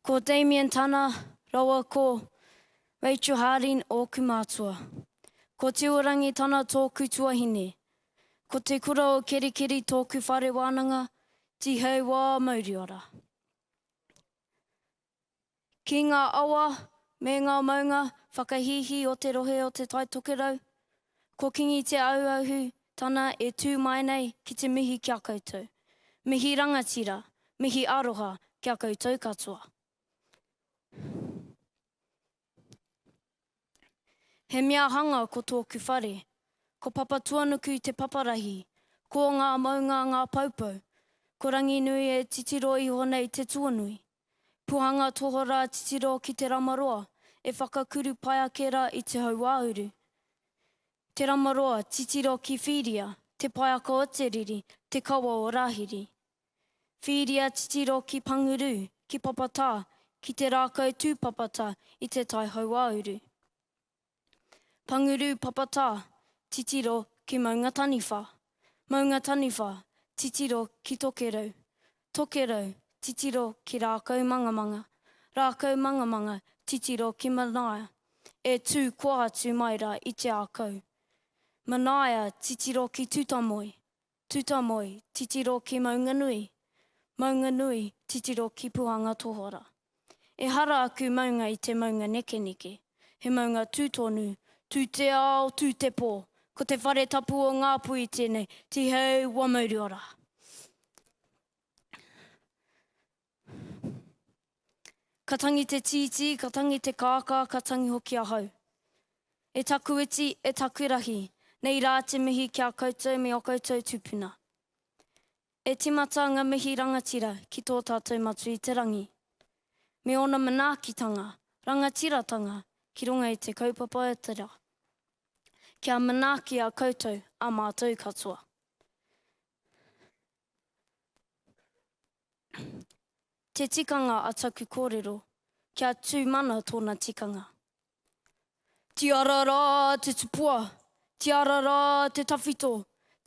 Ko Damien Tana rawa ko Rachel Harding ōku mātua. Ko Tiurangi Tana tōku tuahine. Ko Te Kura o Kerikeri tōku whare wānanga, Tihei wā Mauriora. Ki ngā awa me ngā maunga whakahīhī o te rohe o Te Tai Tokerau, ko Kingi Te Auahu tana e tū mai nei ki te mihi ki a koutou. Mihi rangatira, mihi aroha ki a koutou katoa. He mea hanga ko tōku whare. Ko Papatuanuku te paparahi. Ko ngā maunga ngā paupau. Ko Ranginui e titiro iho nei te tuanui. Puhanga tohorā titiro ki te ramaroa e whakakuru pai ake rā i te hauāuru. Te ramaroa titiro ki Whīria, te paeaka o te riri, te kawa o Rāhiri. Whiria titiro ki Panguru, ki Papatā, ki te rākau tūpapata i Te Tai Hauāuru. Panguru, Papatā, titiro ki Maungataniwha. Maungataniwha, titiro ki Tokerau. Tokerau, titiro ki Rākaumangamanga. Rākaumangamanga, titiro ki Manaia, e tū koa atu mai rā i Te Ākau. Manaia, titiro ki Tutamoe. Tutamoe, titiro ki Maunganui. Maunganui, titiro ki Puhanga Tohora. Ehara aku maunga i te maunga nekeneke. He maunga tū tonu, tū te ao, tū te pō. Ko te whare tapu o Ngāpuhi tēnei, Tiheu Wamauruara. Ka tangi te tītī, ka tangi te kākā, ka tangi hoki ahau. E taku iti, e taku rahi, nei rā te mihi ki a koutou me o koutou tupuna. E timata nga mihi rangatira ki tō tātou Matua i te Rangi, me ona manaakitanga, rangatiratanga ki runga i te kaupapa o te ra, kia manaaki a koutou, a mātou katoa. Te tikanga a taku kōrero, kia tū mana tōna tikanga. Tiara rā te tupua, tiara rā te tawhito,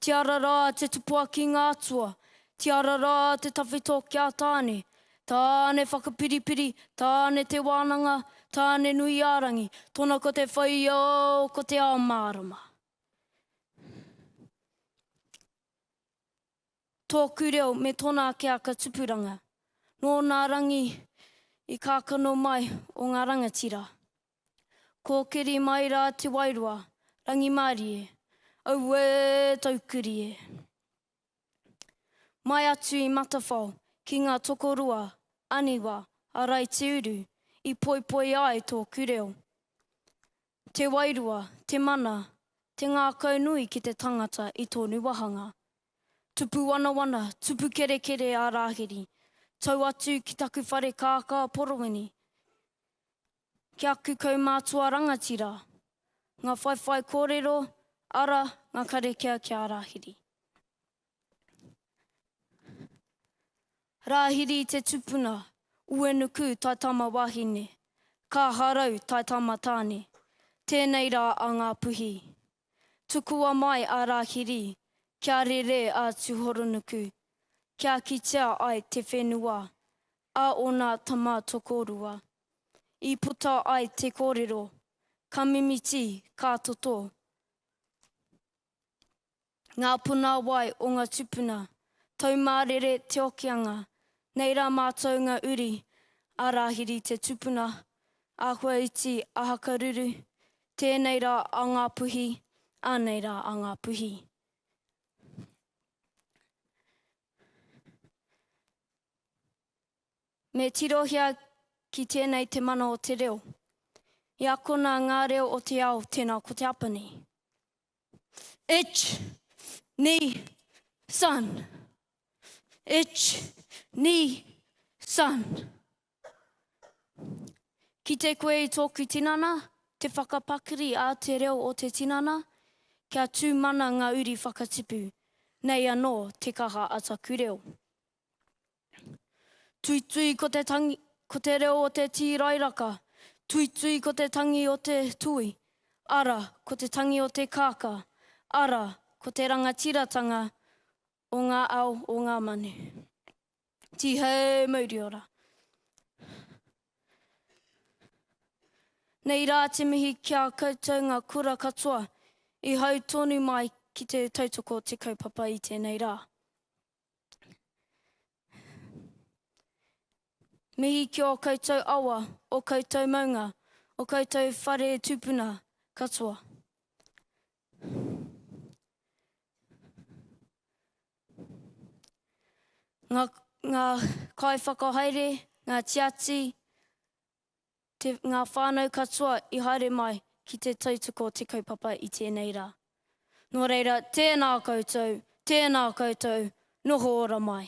tiara rā te tupua ki ngā atua, tiara rā te tawhito ki a Tāne, Tāne whakapiripiri, Tāne te wānanga, Tāne nui a rangi, tōna ko te whai o, ko te ao mārama. Tōku reo me tōna ake aka tupuranga. Nō nā rangi i kākano mai o ngā rangatira. Kōkiri mai rā Te Wairoa, rangimārie, auē taukuri e. Mai atu i Matawhao ki ngā tokorua, aniwa, a Raitiuru i poipoi ai tōku reo. Te wairua, te mana, te ngākau nui ki te tangata i tōnu wahanga. Tupu wanawana, tupu kerekere a Rāhiri, tau atu ki taku whare kākā porowini, ki aku kaumātua rangatira. Ngā whaiwhai kōrero, ara, ngā kare kea ki a Rāhiri. Rāhiri te tupuna, Uenuku tae tama wahine, Kāharau tae tama tāne, tēnei rā a Ngāpuhi. Tukua mai a Rāhiri kia rere a Tuhoronuku, kia kitea ai te whenua a ōna tama tokorua. I puta ai te kōrero, ka mimiti, ka toto. Ngā puna wai o ngā tupuna, Taumārere Te Okeanga, nei rā mātou ngā uri, a Rāhiri te tupuna, a Huaiti a Hakaruru, tēnei rā a Ngāpuhi, anei rā a Ngāpuhi. Me tirohia ki tēnei te mana o te reo. I akona ngā reo o te ao, tēnā ko te apa nei. Ich, ni, san. Ich, ni, san. Kite koe i tōku tinana, te whakapakari a te reo o te tinana, kia tū mana ngā uri whakatipu. Nei anō te kaha a taku reo. Tuitui ko te tangi, ko te reo o te tīrairaka, tuitui ko te tangi o te tui, ara, ko te tangi o te kākā, ara, ko te rangatiratanga o ngā ao o ngā manu. Tihei mauri ora. Nei rā te mihi ki a koutou ngā kura katoa i hau tonu mai ki te tautoko o te kaupapa i tēnei rā. Mihi ki ō koutou awa, ō koutou maunga, ō koutou whare tūpuna katoa. Ngā, ngā kaiwhakahaere, ngā tiati, te, ngā whānau katoa i haere mai ki te tautoko o te kaupapa i tēnei rā. Nō reira, tēnā koutou, tēnā koutou, noho ora mai.